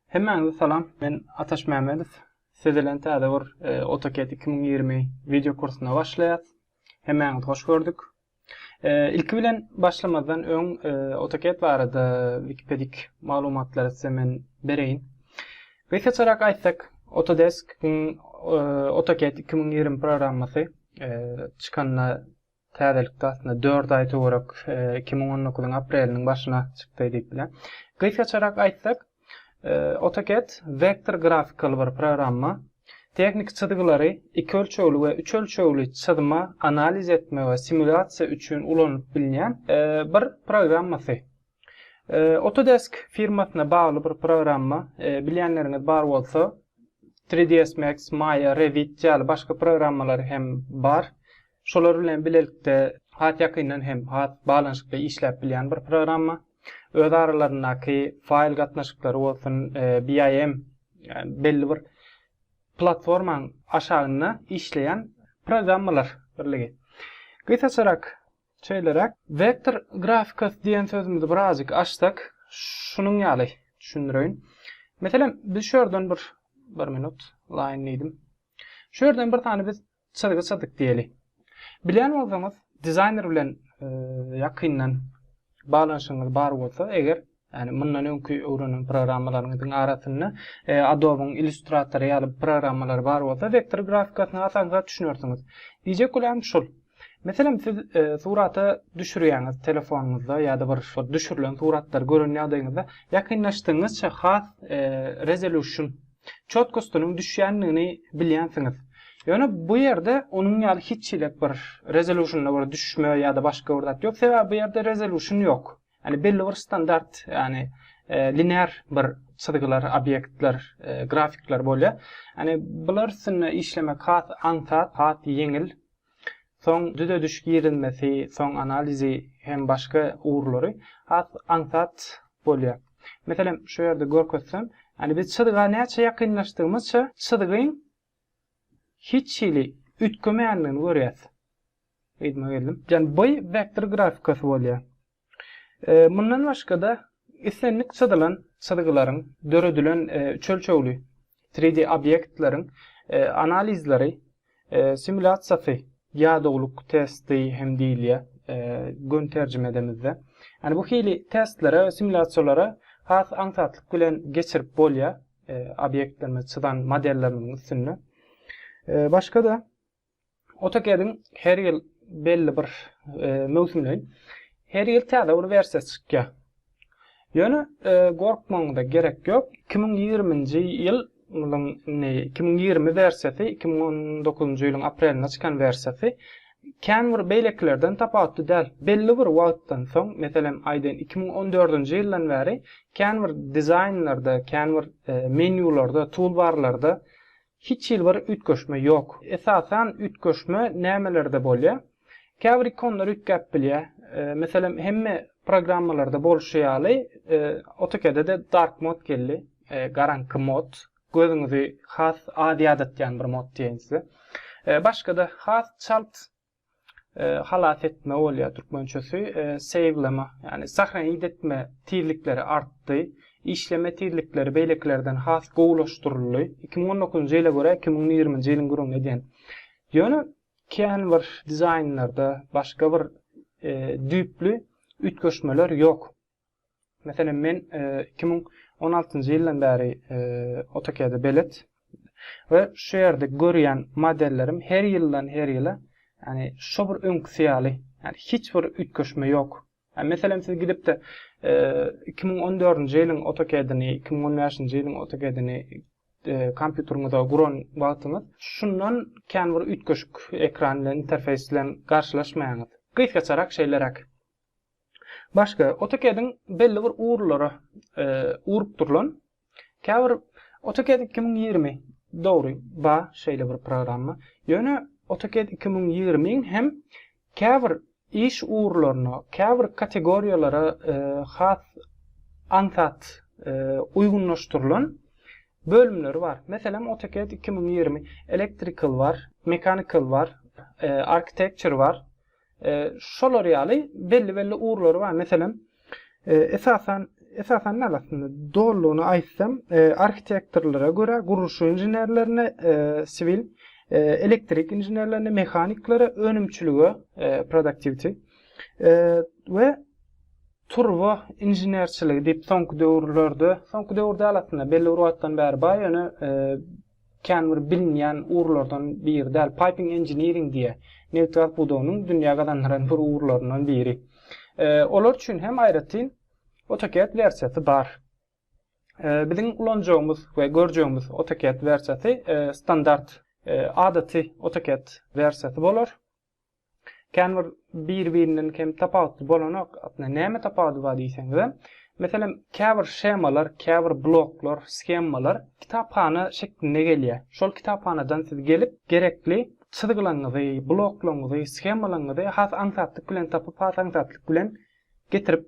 Hemmäňize salam, men Ataş Mämmedow. Size bilen täze bir e, AutoCAD 2020 video kursyna başlaýas. Hemmäňizi hoş gördük. E, ilki bilen başlamazdan öň e, AutoCAD barada Wikipedik maglumatlary size men bereýin. Gysgaçarak aýtsak, Autodesk-iň AutoCAD 2020 programmasy çykanyna Täzelikde aslynda dört aý töwerek iki müň on dokuzyň apreliniň başyna çykdy diýip bilýän. Gysgaçarak aýtsak, AutoCAD wektor grafikaly bir programma. Tehniki çyzgylary iki ölçegli we üç ölçegli çyzma, analiz etme we simulýasiýa üçin ulanylyp bilnýän bir programmasy. Autodesk firmasyna bagly bir programma, bilýänleriňiz bar bolsa, Three ds Max, Maya, Revit ýaly başga programmalary hem bar. Şolar bilen bilelikde has ýakyndan hem has baglanyşykly işläp bilýän bir programma. Öz aralaryndaky faýl gatnaşyklary bolsun, BIM, ýagny belli bir platformaň aşagynda işleýän programmalar birligi. Gysgaçarak Şeýleräk, Vektor grafikasy diýen sözümizi birazjyk açsak, şunuň ýaly düşündireýin. Meselem, biz şu ýerden bir, bir minut, line diýdim. Şu ýerden bir sany biz çyzgy çyzdyk diýeli. Bilýän bolsaňyz, dizaýner bilen ýakyndan baglanyşygyňyz bar bolsa eger, Ýagny mundan öňki öwrenen programmalaryňyzyň arasynda Adobe-yň Illustrator ýaly programmalary bar bolsa, wektor grafikasyna asanrak düşünersiňiz. Diýjek bolýanym şul. Meselem, siz surata düşürýäňiz telefonyňyzda ýa-da bir şol düşürilen suratlary gören ýagdaýyňyzda ýakynlaşdygyňyzça has resolution, çotkostynyň düşýändigini bilýänsiňiz. Ýöne bu ýerde onuň ýaly hiç hilet bir resolutionda bir düşme ýa-da başga bir zat ýok. Sebäbi bu ýerde resolution ýok. Ýagny belli bir standart, ýagny linear bir çyzgylar, obýektler, grafikler bolýar. Ýagny bular üstünde işlemek has aňsat, has ýeňil. Soň düzediş girizmesi, soň analizi hem başga ugurlary has aňsat bolýar. Meselem, şu ýerde görkezsem, ýagny biz çyzga näçe ýakynlaşdygymyzça çyzgyň hiç hili üýtgemeýändigini görýäs. Yzyma geldim. Ýagny bu wektor grafikasy bolýar. Mundan başga-da islendik çyzylan çyzgylaryň, döredilen üç ölçegli 3D obýektleriň analizleri, simulýasiýasy, ýadawlyk testi hem diýilýär göni terjimedemizde. Ýagny bu hili testlere we simulýasiýalara has aňsatlyk bilen geçirip bolýar obýektlerimizi çyzan modellerimiziň üstünde. Başga-da AutoCAD-iň her ýyl belli bir möwsümleýin her ýyl täze bir wersiýasy çykýar. Ýöne gorkmagyňyza gerek ýok. Iki müň ýigrimi-nji ýyl ylyň indi iki müň ýigrimi wersiýasy iki müň on dokuzynjy ýylyň aprelinde çykan wersiýasy kän bir beýlekilerden tapawutly däl. Belli bir wagtdan soň, meselem, aýdaýyn, iki müň on dördünji ýyldan bäri kän bir dizaýnlarda, kän bir menýularda, toolbar-larda Hiç hili bir üýtgeşme ýok. Esasan üýtgeşme nämelerde bolýa? Käbir ikonlar üýtgäp bilýä. Meselem hemme programmalarda bolşy ýaly AutoCAD-de dark mode geldi, garaňky mod. Gözüňizi has az ýadatýan bir mod diýeýin size. Başgada has çalt halas etme bolýar türkmençesi, sewleme, ýagny sahnaýit etme tizlikleri artdy. Işleme tizlikleri beýlekilerden has gowulaşdyryldy. Iki müň on dokuzynjy ýyla görä iki müň ýigriminji ýylyň gürrüňini edýän. Ýöne kän bir dizaýnlarda başga bir düýpli üýtgeşmeler ýok. Meselem, men iki müň on altynjy ýyldan bäri AutoCAD-e belet we şu ýerde görýän modellerim her ýyldan her ýyla, ýagny şo bir öňküsi ýaly, ýagny hiç bir üýtgeşme ýok. Meselem, siz gidip-de iki müň on dördünji ýylyň AutoCAD-ini, iki müň on bäşinji ýylyň AutoCAD-ini kompýuteriňize guran wagtyňyz, şundan kän bir üýtgeşik ekran bilen, interfeýs bilen garşylaşmaýaňyz. Gysgaçarak şeýleräk. Başga, AutoCAD-iň belli bir ugurlara ugrukdyrylan, käbir AutoCAD iki müň ýigrimi, dogry, ba, şeýle bir programma. Ýöne AutoCAD iki müň ýigrimiň hem käbir iş ugurlaryna, käbir kategoriýalara has aňsat uýgunlaşdyrylan bölümleri bar. Meselem, AutoCAD iki müň ýigrimi Electrical bar, Mechanical bar, Architecture bar. Şolar ýaly belli-belli ugurlary bar. Meselem, esasan esasan näme aslynda dolugyny aýtsam arhitektorlara görä gurluşyk inženerlerine siwil elektrik inženerlerine mehaniklere önümçilige productivity we turba inženerçiligi diýip soňky döwürlerde soňky döwür däl aslynda belli bir wagtdan bäri bar ýöne känbir bilinýän ugurlardan biri däl. Piping Engineering diýýär. Nebitgaz pudagynyň dünýä gazandyran bir ugurlaryndan biri. Olar üçin hem aýratyn AutoCAD wersiýasy bar. Biziň ulanjagymyz we görjegimiz AutoCAD wersiýasy standart, adaty AutoCAD wersiýasy bolar. Känbir bir-birinden kem tapawutly bolanok. Aslynda näme tapawudy bar diýseňizem, meselem, käbir shemalar, käbir bloklar, shemmalar kitaphana şeklinde gelýär. Şol kitaphanadan siz gelip, gerekli çyzgylaňyzy, bloklaňyzy, shemmalaňyzy has aňsatlyk bilen tapyp, has aňsatlyk bilen getirip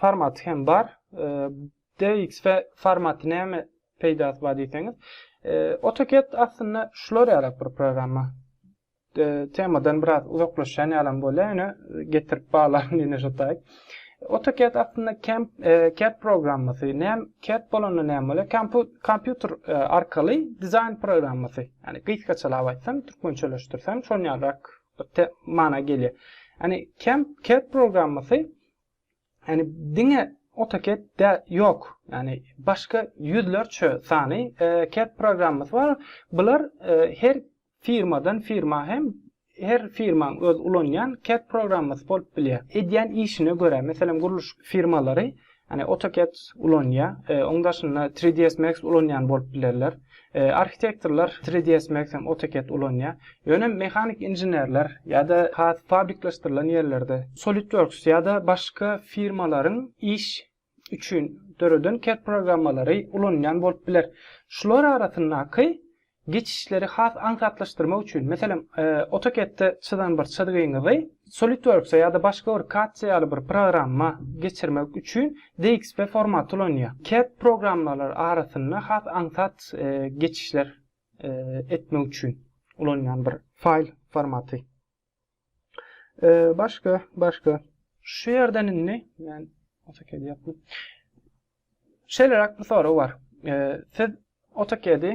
formaty hem bar. DX formaty näme peýdasy bar diýseňiz. AutoCAD aslynda şular ýalak bir programma. Temadan biraz uzaklaşýan ýalam bolýar, ýöne getirip baglaryn ýene şo taýy. AutoCAD aslynda CAD programmasy. Näme CAD bolanda näme bolýar? Kompýuter arkaly dizaýn programmasy. Ýani gysgaçalap aýtsam, türkmençeleşdirsem şon ýalrak bir te mana gelýär. Ýani CAM CAD programmasy ýani diňe AutoCAD dä ýok. Ýani başga ýüzlerçe sany CAD programmasy bar. Bular her firmadan firma hem her firmaň öz ulanýan CAD programmasy bolup bilýär. Edýän işine görä, meselem gurluş firmalary Ýagny AutoCAD ulanýar. Oň daşynda 3ds Max ulanýan bolup bilerler. Arhitektorlar 3ds Max hem AutoCAD ulanýar. Ýöne mehanik inženerler ýa-da has fabrikleşdirilen ýerlerde SolidWorks ýa-da başga firmalaryň iş üçin döreden CAD programmalary ulanýan bolup biler. Şular arasyndaky Geçişleri has aňsatlaşdyrmak üçin, meselem, AutoCAD-de çyzan bir çyzgyňyzy SolidWorks-a ýa-da başga bir CAD-ca ýaly bir programma geçirmek üçin DXP formaty ulanýar. CAD programmalary arasynda has aňsat geçişler etmek üçin ulanýan bir faýl formaty. Başga, başga. Şu ýerden indi, men AutoCAD ýapdym. Şeýleräk bir sorag bar. Siz AutoCAD-i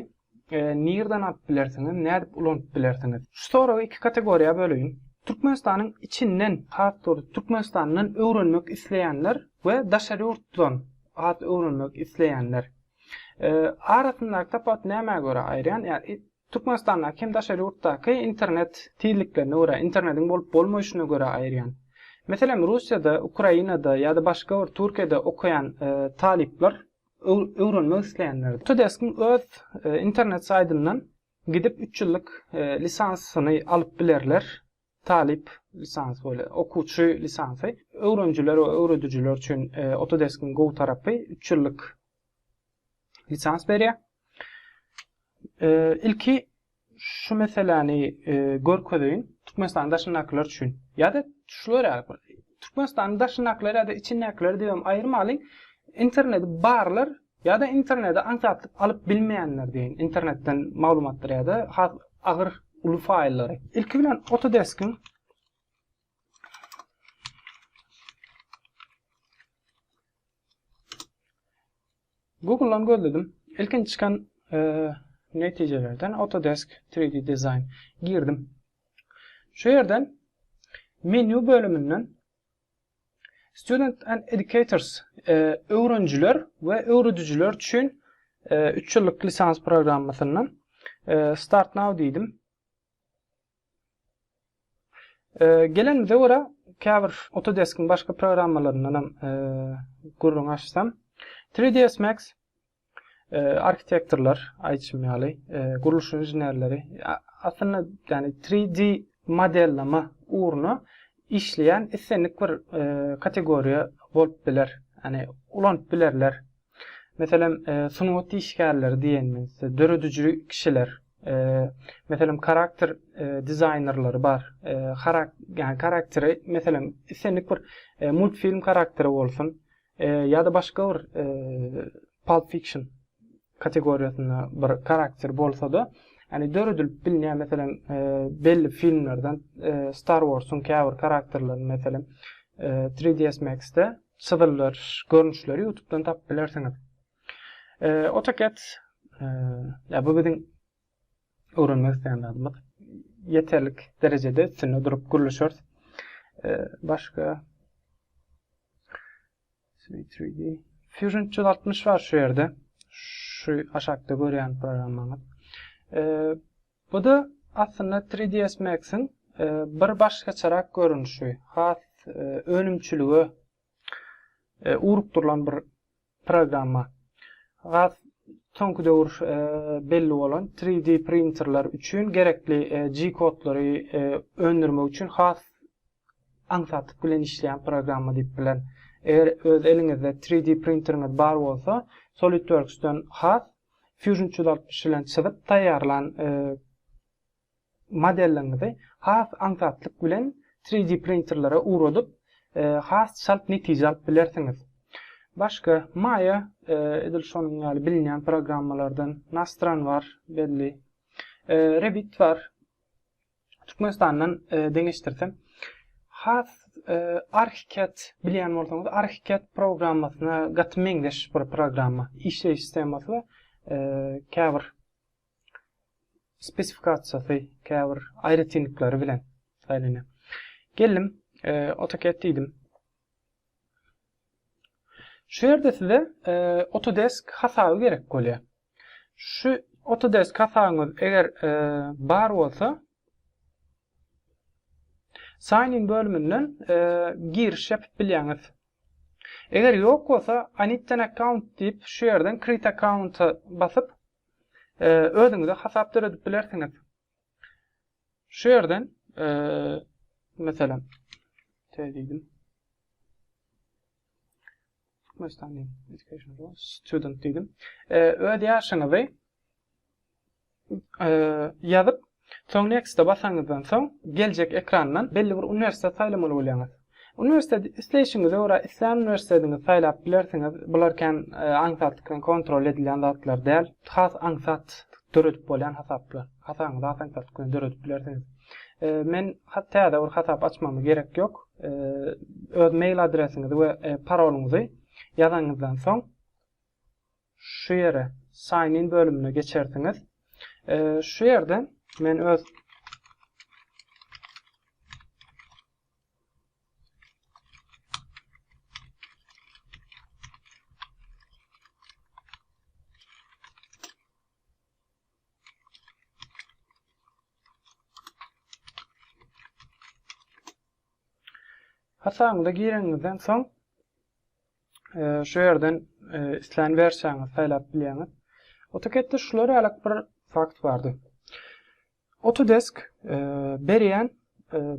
nirden alyp bilersiňiz, nädip ulanyp bilersiňiz? Şu soragy iki kategoriýa böleýin. Türkmenistanyň içinden, has dogrusy Türkmenistandan öwrenmek isleýänler we daşary ýurtdan az öwrenmek isleýänler. Arasyndaky tapawut nämä görä aýyrýan? Ýa Türkmenistandaky hem daşary ýurtdaky internet tizliklerine görä, internetiň bolup bolmaýşyna görä aýyrýan. Meselem Russiýada, Ukrainada ýa-da başga bir Türkiýede okaýan talyplar, öwrenmek isleýänler. Tudesk-iň öz internet saýdyndan gidip üç ýyllyk lisansyny alyp bilerler. Talyp, lisans we okuwçy lisansy, öwrenijiler we öwredijiler üçin Autodesk-iň gowy tarapy üç ýyllyk lisans berýär. Ilki şu meseläni görkezeýin, Türkmenistanyň daşyndakylar üçin ýa-da şular ýaly bir Türkmenistanyň daşyndakylar ýa-da içindäkiler diýibem aýyrmalyň, interneti barlar Ýa-da internede aňsatlyk alyp bilmeýänler deýin, internetden maglumatlary ýa-da has agyr uly faýllary. Ilki bilen Autodesk-iň Google-dan gözledim. Ilkinji çykan netijelerden Autodesk 3D Design girdim. Şu ýerden menýu bölüminden Student and Educators, öwrenijiler we öwredijiler üçin üç ýyllyk lisans programmasyndan Start Now diýdim. Gelenimize görä, käbir Autodesk-iň başga programmalaryndan hem gürrüň açsam, 3ds Max arhitektorlar aýtşym ýaly, gurluş inženerleri aslynda ýani 3D modelleme ugruna işleýän islendik bir kategoriýa bolup biler. Ýani ulanyp bilerler. Meselem, sungat işgärleri diýenimizde, dörediji kişiler, meselem, karakter dizaýnerleri bar. Ýani karakteri, meselem, islendik bir multfilm karakteri bolsun, Ýa-da başga bir Pulp Fiction kategoriýasynda bir karakter bolsa-da, ýagny döredilip bilinýän, meselem, belli filmlerden Star Wars-yň käbir karakterlerini, meselem, 3ds Max-de çyzyldyryş görnüşleri ýutubdan tapyp bilersiňiz. AutoCAD, ýa bu biziň öwrenmek isleýän zadymyz ýeterlik derejede üstünde durup gürleşeris. E, başga 3D Fusion 360 bar şu ýerde. Şu aşakda görýän programmamyz. E, bu da aslynda 3ds Max-iň e, bir başgaçarak görnüşi, has e, önümçilige urup durlan bir programma. Has soňky döwür belli bolan 3D printerler üçin gerekli G-kodlary öndürmek üçin has aňsatlyk bilen işleýän programma diýip bilerin. Eger öz eliňizde 3D printeriňiz bar bolsa, SolidWorks-den has Fusion 360 bilen çyzyp taýýarlan Modeliňizi has aňsatlyk bilen 3D printerlere ugradyp, has çalt netije alyp bilersiňiz. Başga, Maya edil şonuň ýaly bilinýän programmalardan, Nastran bar, belli, Revit bar. Türkmenistandan deňeşdirsem, has ArchiCAD bilýän bolsaňyz, ArchiCAD programmasyna gaty meňzeş bir programma, işleýiş skemasy we käbir spesifikasiýasy, käbir aýratynlyklary bilen saýlanýar. Geldim, AutoCAD diýdim. Şu ýerde size Autodesk hasaby gerek bolýar. Şu Autodesk hasabyňyz eger bar bolsa, Sign in bölüminden giriş ýapyp bilýäňiz. Eger ýok bolsa, I need an account diýip, şu ýerden Create account-a basyp, özüňize hasap döredip bilersiňiz. Şu ýerden meselem diýdim. Türkmenistan education student diýdim. Öz ýaşyňyzy ýazyp Soň Next-a basaňyzdan soň, geljek ekrandan belli bir uniwersitet saýlamaly bolýaňyz. Uniwersiteti isleýşiňize görä islän uniwersitetiňizi saýlap bilersiňiz. Bular kän aňsat kontrol edilýän zatlar däl. Has aňsat döredip bolýan hasaplar. Hasabyňyzy has aňsat döredip bilersiňiz. Men täze bir hasap açmama gerek ýok. Öz mail adresiňizi we parolyňyzy ýazanyňyzdan soň, şu ýere sign in bölümine geçersiňiz. Şu ýerde men öz Hasabyňyza gireňizden soň şu ýerden islän wersiýaňyzy saýlap bilýäňiz. AutoCAD-de şular ýaly bir fakt bardy. Autodesk berýän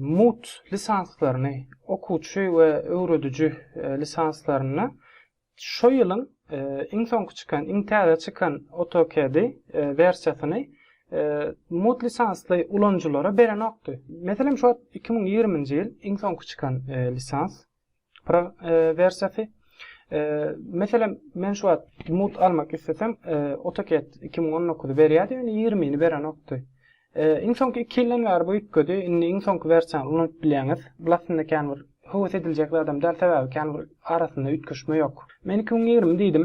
MUT lisanslaryny, okuwçy we öwrediji lisanslaryny şo ýylyň iň soňky çykan, iň täze çykan AutoCAD-i wersiýasyny MUT lisansly ulanyjylara berenokdy. Meselem, şu wagt iki müň ýigrimi nji ýyl iň soňky çykan lisans. Pro wersiýasy. Meselem, men şu wagt mut almak istesem, AutoCAD 2019-y berýärdi, ýöne 20-ni berenokdy. Iň soňky 2 ýyldan bäri bu üýtgedi. Indi iň soňky wersiýany ulanyp bilýäňiz. Bu aslynda kän bir höwes ediljek zadam däl, sebäbi kän bir arasynda üýtgeşme ýok. Men 2020 diýdim.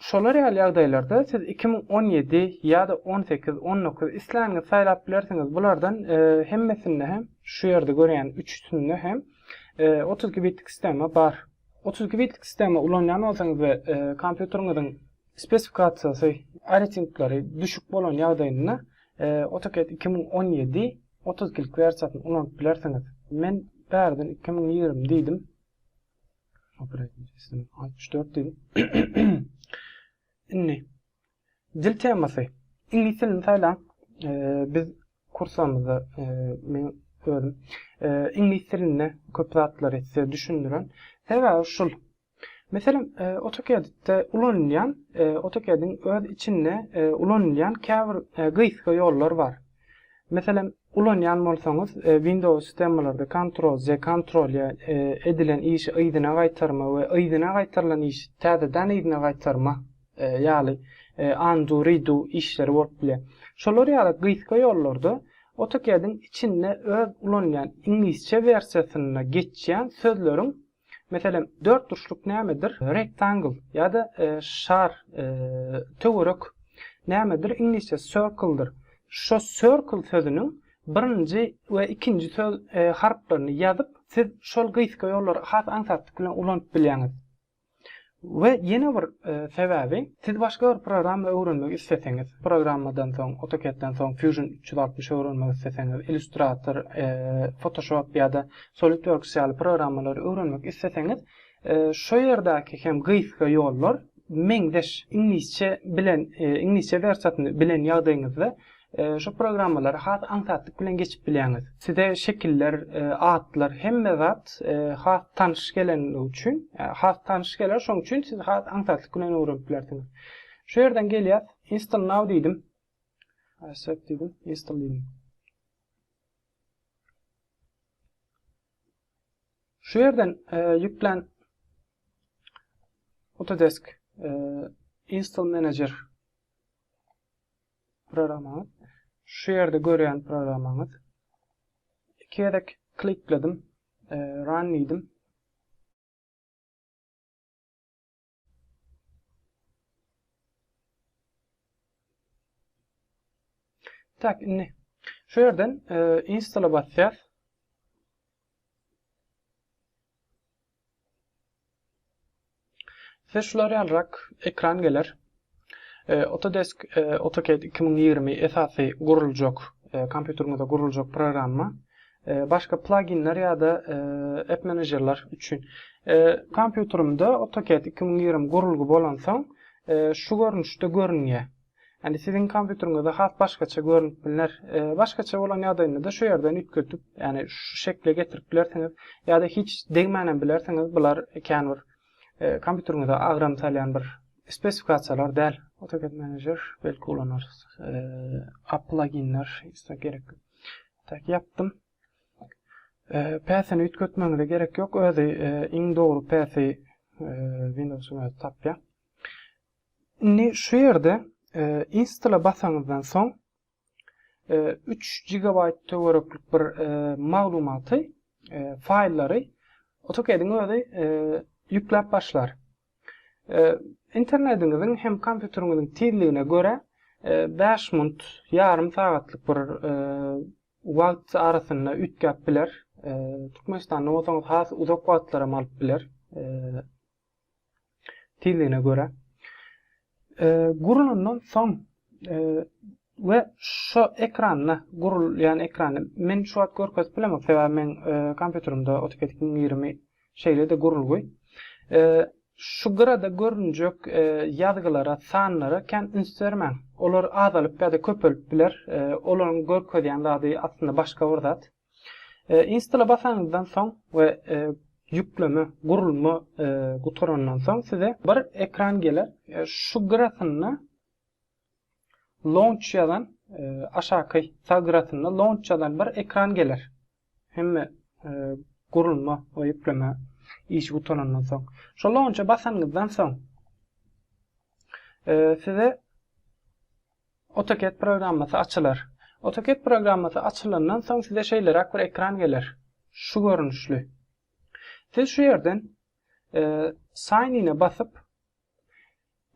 Şolar ýaly ýagdaýlarda siz iki müň on ýedi ýa-da on sekiz, on dokuz isläniňizi saýlap bilersiňiz. Bulardan hemmesinde hem, şu ýerde görýän üçüsinde hem otuz iki bitlik sistema bar. Otuz iki bitlik sistema ulanýan bolsaňyz we kompýuteriňiziň spesifikasiýasy, aýratynlyklary düşük bolan ýagdaýynda AutoCAD iki müň on ýedi otuz ikilik wersiýasyny ulanyp bilersiňiz. Men bärden iki müň ýigrimi diýdim. altmyş dört dil. Indi dil temasy. Iňlis dilini saýlaň. Biz kursamyzda men özüm iňlis dilinde köp zatlary size düşündiren. Sebäbi şul. Meselem, AutoCAD-de ulanylýan, AutoCAD-iň öz içinde ulanylýan käbir gysga ýollar bar. Meselem, ulanýan bolsaňyz, Windows sistemalarda Ctrl-Z, Ctrl-Y edilen işi yzyna gaýtarma we yzyna gaýtarylan işi täzeden yzyna gaýtarma ýaly undo, redo işleri bolup bilýär. Şolar ýaly gysga ýollarda AutoCAD-iň içinde öz ulanylýan iňlisçe wersiýasynda geçýän sözleriň Meselem, dörtburçluk nämedir? Rectangle ýa-da şar, töwerek nämedir? Iňlisçe circle-dyr. Şo circle sözüniň birinji we ikinji söz harplaryny ýazyp, siz şol gysga ýollary has aňsatlyk bilen ulanyp bilýäňiz. We ýene bir sebäbi, siz başga bir programma öwrenmek isleseňiz, programmadan soň, AutoCAD-den soň Fusion üç ýüz altmyş öwrenmek isleseňiz, Illustrator, Photoshop ýa-da SolidWorks ýaly programmalary öwrenmek isleseňiz, şo ýerdäki hem gysga ýollar meňzeş. Iňlisçe bilen, iňlisçe wersiýasyny bilen ýagdaýyňyzda Şu programmalary has aňsatlyk bilen geçip bilýäňiz. Size şekiller, atlar, hemme zat has tanyş gelenligi üçin, has tanyş geler, şonuň üçin siz has aňsatlyk bilen öwrenip bilersiňiz. Şu ýerden gelýäs, Install now diýdim. Accept diýdim, install diýdim. Şu ýerden ýüklen Autodesk Install Manager programmaňyz. Şu ýerde görýän programmaňyz. Iki gezek klikledim. Run diýdim. Tak, indi şu ýerden install basýas. Size şular ýalyrak ekran geler. Autodesk AutoCAD 2020 esasy guruljak, kompýuteriňize guruljak programma. Başga pluginler ýa-da app menejerler üçin. Kompýuterimde AutoCAD 2020 gurulgy bolansoň şu görnüşde görünýär. Ýagny siziň kompýuteriňizde has başgaça görünip bilner. Başgaça bolan ýagdaýynda-da şu ýerden üýtgetip, ýagny şu şekle getirip bilersiňiz, ýa-da hiç degmänem bilersiňiz, bular kän bir kompýuteriňize agram salýan bir spesifikasiýalar däl. AutoCAD Manager belki ulanarys. App pluginler isleg gerek ýok. Tak ýapdym. Päsini üýtgetmegiňize gerek ýok, özi iň dogry päsi Windowsyň özi tapýar. Indi şu ýerde install-a basaňyzdan soň üç gigabaýt töwereklik bir maglumaty, faýllary AutoCAD-iň özi ýükläp başlar. Internediňiziň hem kompýuteriňiziň tizligine görä bäş munt, ýarym sagatlyk bir wagt arasynda üýtgäp biler. Türkmenistanda bolsaňyz has uzak wagtlaram alyp biler. tizligine görä gurulandan soň we şo ekranda gurulýan ekranda men şu wagt görkezip bilemok sebäbi men kompýuterimde AutoCAD 2020 şeýle-de gurulgy şu gyrada görünjek ýazgylara sanlara kän üns bermäň olar azalyp ýa-da köpelip biler olaryň görkezýän zady aslynda başga bir zat. Install-a basanyňyzdan soň we ýükleme, gurulma, gutarandan soň size bir ekran geler. Şu gyrasynda Launch ýazan, aşaky sag gyrasynda Launch ýazan bir ekran geler. Hemme gurulma we ýükleme işi gutarandan soň. Şo Launch-a basanyňyzdan soň size AutoCAD programmasy açylar. AutoCAD programmasy açylandan soň size şeýleräk bir ekran geler. Şu görnüşli. Siz şu ýerden Sign in-e basyp,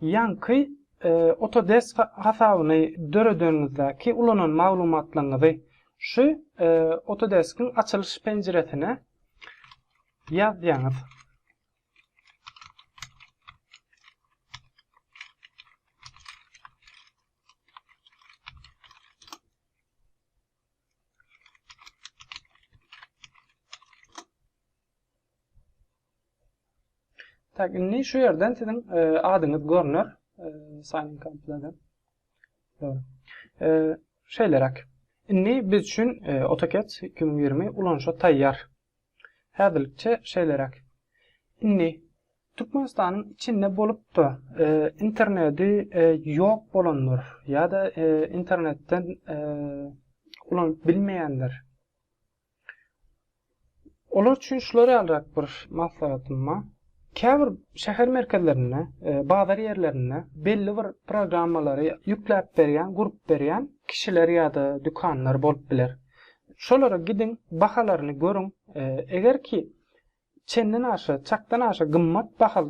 ýaňky Autodesk hasabyny döredeniňizdäki ulanan maglumatlaryňyzy şu Autodesk-iň açylyş penjiresine ýazýaňyz. Tak, indi şu ýerden siziň e, adyňyz görner. E, sign in kompýuterden. Dogry. E, şeýleräk. Indi biz üçin AutoCAD 2020 ulanyşa taýýar. Häzirlikçe şeýleräk. Indi Türkmenistanyň içinde bolup-da interneti ýok bolanlar ýa-da internetden ulanyp bilmeýänler, olar üçin şular ýalyrak bir maslahatym bar. Käbir şäher merkezlerinde, bazar ýerlerinde belli bir programmalary ýükläp berýän, gurup berýän kişiler ýa-da dükanlar bolup biler. Şolara gidiň, bahalaryny görüň. Eger ki, çenden aşa, çakdan aşa gymmat baha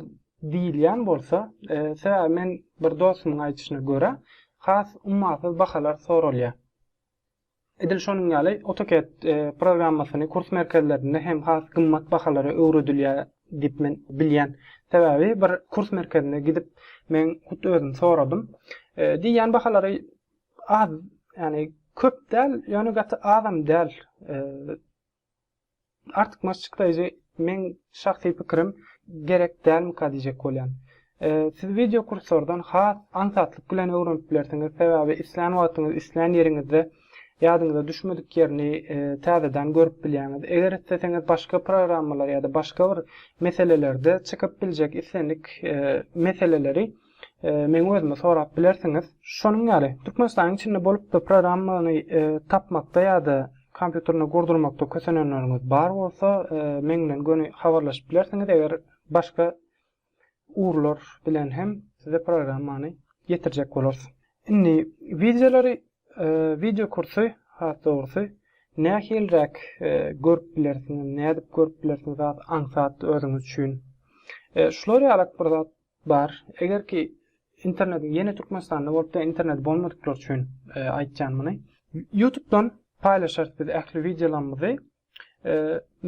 diýilýän bolsa, sebäbi men bir dostumyň aýdyşyna görä, has ummasyz bahalar soralýar. Edil şonuň ýaly, AutoCAD programmasyny kurs merkezlerinde hem has gymmat bahalara öwredilýär diýip men bilýän. Sebäbi bir kurs merkezine gidip, men hut özüm soradym. Diýýän bahalary az, ýagny köp däl, ýöne gaty azam däl. Artykmaç çykraýjy meň şahsy pikirim gerek dälmika diýjek bolýan. Siz wideo kurslardan has aňsatlyk bilen öwrenip bilersiňiz sebäbi islän wagtyňyz islän ýeriňizde ýadyňyza düşmedik ýerini täzeden görüp bilýäňiz. Eger isleseňiz başga programmalar ýa-da başga bir meselelerde çykyp biljek islendik meseleleri Meň özümi sorap bilersiňiz. Şonuň ýaly, Türkmenistanyň içinde bolup-da programmany tapmakda ýa-da kompýuterine gurdurmakda kösenenleriňiz bar bolsa, meň bilen göni habarlaşyp bilersiňiz, eger başga ugurlar bilen hem size programmany ýetirjek bolarys. Indi wideolary, wideo kursy, has dogrusy, nähiliräk görüp bilersiňiz, nädip görüp bilersiňiz has aňsat özüňiz üçin. Şular ýalak bir zat Bar. Eger ki internetiň ýene Türkmenistanda bolupda interneti bolmadyklar üçin aýtýan muny. Ýutubdan paýlaşarys biz ähli wideolarymyzy.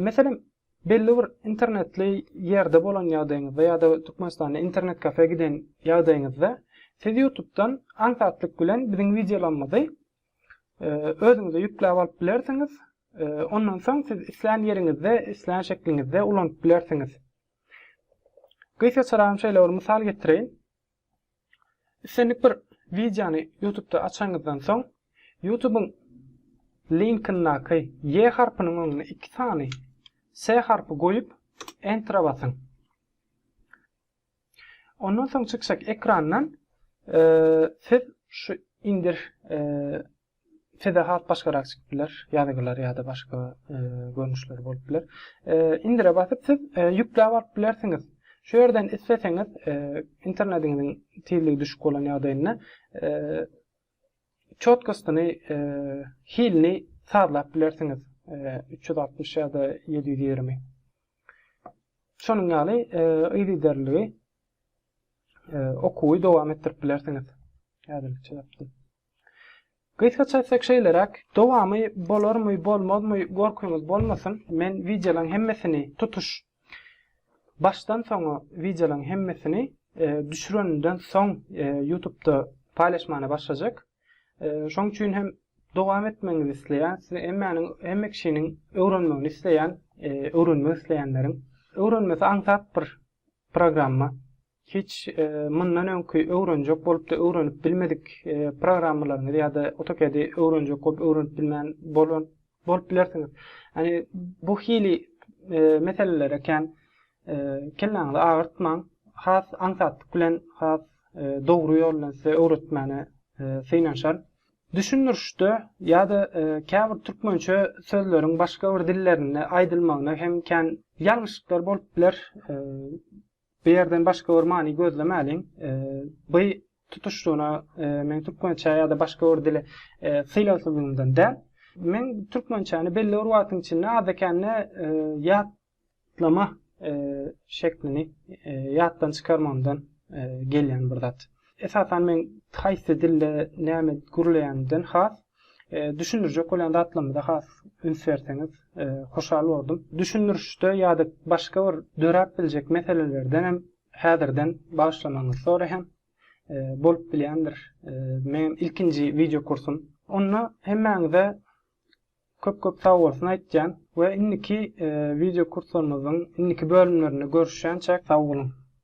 Meselem belli bir internetli ýerde bolan ýagdaýyňyzda ýa-da Türkmenistanda internet kafe giden ýagdaýyňyzda siz Ýutubdan aňsatlyk bilen biziň wideolarymyzy özüňize ýükläp alyp bilersiňiz. Ondan soň siz islän ýeriňizde, islän şekliňizde ulanyp bilersiňiz. Gysga çyragym şeýle bir mysal getireýin. Islendik bir wideony ýutubda açanyňyzdan soň, ýutubyň linkyndaky ýe harpynyň öňüne iki sany se harpy goýup, entra basyň. Ondan soň çykjak ekrandan siz şu indir Size has başgarak çykyp biler, ýazgylar ýa-da başga görnüşler bolup biler. Indire basyp siz ýükläp alyp bilersiňiz. Şu ýerden isleseňiz internetiňiziň tizligi düşük bolan ýagdaýynda çotkostyny, hilini sazlap bilersiňiz, üç ýüz altmyş ýa-da ýedi ýüz ýigrimi. Şonuň ýaly yzygiderliligi okuwy dowam etdirip bilersiňiz. Häzirlikçe ýapdym. Gysgaça aýtsak şeýleräk, dowamy bolarmy bolmazmy gorkyňyz bolmasyn, men wideolaň hemmesini tutuş başdan soňa wideolaň hemmesini düşüreninden soň ýutubda paýlaşmana başlajak. Şoň üçin hem dowam etmegiňizi isleýän, size hemmäniň hemme kişiniň öwrenmegini isleýän, öwrenmek isleýänleriň öwrenmesi aňsat bir programma. Hiç mundan öňki öwrenjek bolupda öwrenip bilmedik programmalaryňyzy ýa-da AutoCAD-i öwrenjek bolup öwrenip bilmän bolan bolup bilersiňiz. Ýagny bu hili meselelere kän kelläňizi agyrtmaň. Has aňsatlyk bilen, has dogry ýol bilen size öwretmäne synanyşaryn. Düşündirişde ýa-da käbir türkmençe sözleriň başga bir dillerinde aýdylmagyna hem kän ýalňyşlyklar bolup biler. Bu ýerden başga bir many gözlemäliň. By tutuşlygyna meň türkmençä ýa-da başga bir dile sylagsyzlygymdan däl. Meň türkmençäni belli bir wagtyň içinde azda-kände ýatlama şeklini ýatdan çykarmagymdan gelýän bir zat. Esasan meň haýsy dilde näme gürleýänimden has Düşündirjek bolýan zatlarymyza has üns berseňiz hoşal bordum. Düşündirişde ýa-da başga bir döräp biljek meselelerden hem häzirden bagyşlamagyňyzy soraýan. Bolup bilýändir. Meň ilkinji wideo kursum. Onda hemmäňize köp köp sag bolsun aýtýan we indiki wideo kurslarymyzyň indiki bölümlerinde görüşýänçäk sag boluň.